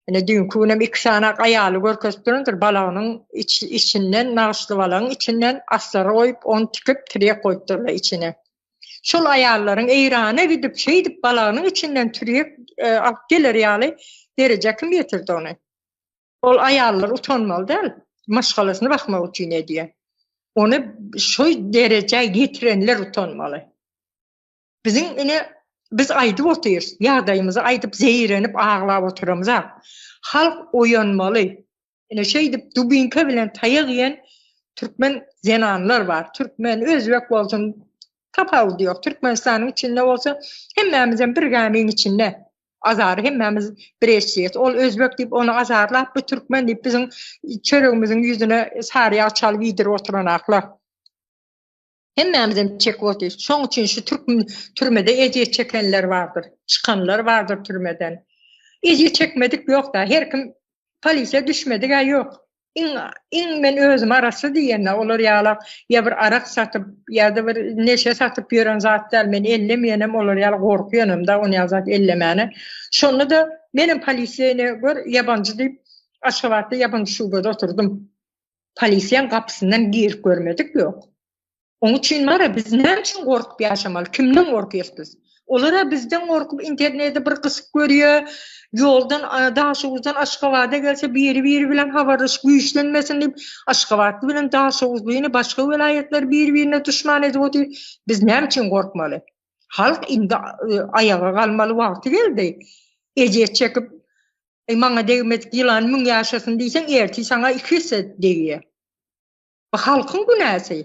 Ine düýnki günem iki sany aýaly görkezipdirindir, balagynyň içinden, nagyşly balagyň içinden aslary goýup, ony tikip, tirýek goýupdyrlar içine. Şol aýallaryň Eýrana gidip, şeýdip balagynyň içinden tirýek alyp geler ýaly derejä kim ýetirdi ony? Ol aýallar utanmaly däl, maşgalasyny bakmak üçin edýär. Ony şu derejä ýetirenler utanmaly. Biziň ine biz aýdyp otyrys, ýagdaýymyzy aýdyp zeýrenip aglap oturamzak. Halk oýanmaly. Ine şeýdip dubinka bilen taýak iýen türkmen zenanlar bar. Türkmen, özbek bolsun tapawudy ýok. Türkmenistanyň içinde bolsa hemmämizem bir gämiň içinde. Azary hemmämiz bir eşýäs. Ol özbek diýip ony azarlap, bu türkmen diýip biziň çöregimiziň ýüzüne sary ýag çalyp iýdirip oturanaklar. Hemmämizem çekip otyrys. Şoň üçin şu türk türmede ejir çekenler bardyr. Çykanlar bardyr türmeden. Ejir çekmedik ýok-da. Her kim polisiýa düşmedik-ä ýok. Iň, iň men özüm arassa diýende, olar ýala ýa bir arak satyp, ýa-da bir neşe satyp ýören zat däl. Men ellemeýänem, olar ýaly gorkýanam-da, on ýaly zat ellemäne. Şonda-da menem polisiýa ine, gör, ýabanjy diýip, Aşgabatda ýabanjy şubada oturdym. Polisiýaň gapysyndan girip görmedik ýok. Oň üçin bar-a biz näme üçin gorkup ýaşamaly? Kimden gorkýas biz? Olar-a bizden gorkup interneti bir gysyp görýä, ýoldan Daşoguzdan Aşgabada gelse biri-biri bilen habarlaşyp güýçlenmesin diýip Aşgabatly bilen Daşoguzlyny başga welaýatlar biri-birine duşman edip otyr. Biz näme üçin gorkmaly? Halk indi aýaga galmaly wagty geldi. Ejir çekip, Eý, maňa degmedik ýylan müň ýaşasyn diýseň, ertir saňa iki esse degýär. Bu halkyň günäsi.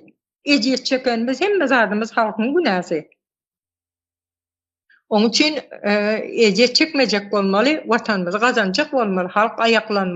Ejir çekenimiz, hemme zadymyz halkyň günäsi. Onuň üçin ejir çekmejek bolmaly, Watanymyzy gazanjak bolmaly, halk aýaklanmaly.